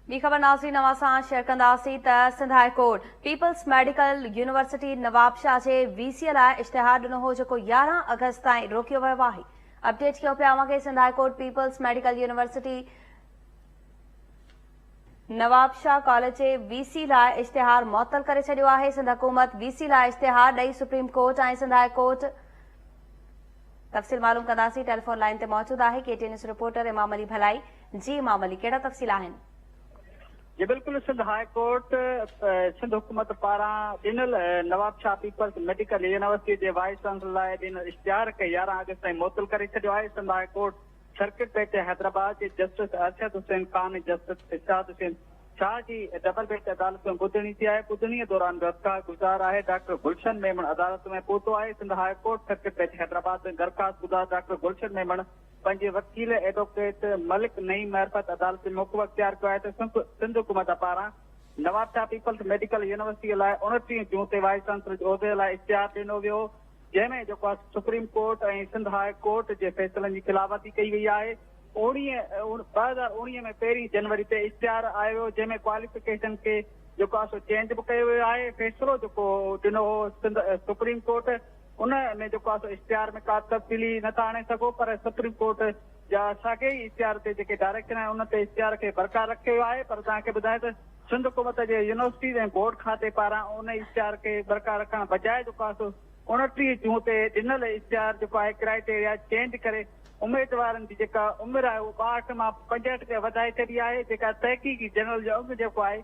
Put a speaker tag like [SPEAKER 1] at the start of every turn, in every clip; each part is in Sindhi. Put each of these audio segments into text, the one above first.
[SPEAKER 1] ٻي خبر ناظرين اوهان سان شيئر ڪنداسين ته Sindh high court peoples medical university Nawabshah جي وي سي لاء اشتهار ڏنو هو جيڪو يارهن آگسٽ تائين روڪيو ويو آهي اپڊيٽ ڪيو پيا اوهان کي Sindh high court peoples medical university Nawabshah college جي وي سي لاء اشتهار معطل ڪري ڇڏيو آهي سنڌ حڪومت وي سي لاء اشتهار ڏئي supreme court ۽ Sindh high court تفصيل معلوم ڪنداسين ٽيليفون لائن تي موجود آهي K T news reporter Imam Ali Bhalai جي امام علي ڪهڙا تفصيل آهن؟ جي
[SPEAKER 2] بلڪل سنڌ هاء ڪورٽ سنڌ حڪومت پاران ڏنل Nawab Shah peoples medical university جي وائيس چانسلر لاء ڏنل اشتهار کي يارهن آگسٽ تائين معطل ڪري ڇڏيو آهي Sindh high court circuit bench Hyderabad جي جسٽس ارشد حسين خان ۽ جسٽس ارشاد حسين شاهه جي ڊبل بينچ عدالت ۾ ٻڌڻي ٿي آهي ٻڌڻي دوران درخواست گذار آهي ڊاڪٽر گلشن ميمڻ عدالت ۾ پهتو آهي Sindh high court circuit bench Hyderabad ۾ درخواست گذار ڊاڪٽر گلشن ميمڻ پنهنجي وڪيل ايڊووڪيٽ ملڪ نعيم معرفت عدالتي موقف اختيار ڪيو آهي ته سنڌ حڪومت پاران نوابشاهه پيپلز ميڊيڪل يونيورسٽيء لاء اڻٽيهه جون تي وائيس چانسلر جي عهدي لاء اشتهار ڏنو ويو هو جنهن ۾ جيڪو supreme court ۽ Sindh high court جي فيصلن جي خلاف ورزي ڪئي وئي آهي اوڻيهه ٻه هزار اوڻيهه ۾ پهرين جنوري تي اشتهار آيو ويو جنهن ۾ ڪواليفڪيشن کي جيڪو آهي سو چينج به ڪيو ويو آهي فيصلو جيڪو ڏنو هو سنڌ سپريم ڪورٽ ان ۾ جيڪو آهي سو اشتهار ۾ ڪا به تبديلي نه ٿا آڻي سگهو پر سپريم ڪورٽ جا ساڳئي ئي اشتهار تي جيڪي ڊائريڪشن آهن ان تي اشتهار کي برقرار رکيو ويو آهي پر توهان کي ٻڌايان ته سنڌ حڪومت جي يونيورسٽيز ۽ بورڊ کاتي پاران ان اشتهار کي برقرار رکڻ بجاء جيڪو آهي سو اوڻٽيهه جون تي ڏنل اشتهار جيڪو آهي ڪرائيٽيريا چينج ڪري اميدوارن جي جيڪا عمر آهي اهو ٻاهٺ مان پنجهٺ تي وڌائي ڇڏي آهي جيڪا تحقيقي جنرل جو اڳ جيڪو آهي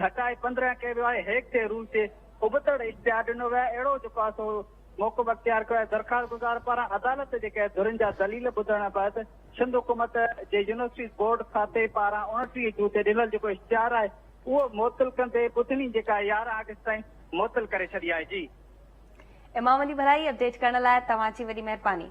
[SPEAKER 2] گهٽائي پندرهن ڪيو ويو آهي هيڪ جي رول تي ابتڙ اختيار ڏنو ويو آهي، اهڙو جو پاسو موقف اختيار ڪيو آهي، درخواست گذار پاران عدالت جي ڪيل ڌرين جا دليل ٻڌڻ بعد سنڌ حڪومت جي يونيورسٽيز بورڊ کاتي پاران اوڻٽيهه جون تي ڏنل جيڪو اشتهار آهي اهو معطل ڪندي ٻڌڻي جيڪا يارهن آگسٽ تائين معطل ڪري ڇڏي
[SPEAKER 1] آهي جي. امام علي ڀرائي اپڊيٽ ڪرڻ
[SPEAKER 2] لاء
[SPEAKER 1] توهان جي وڏي
[SPEAKER 2] مهرباني.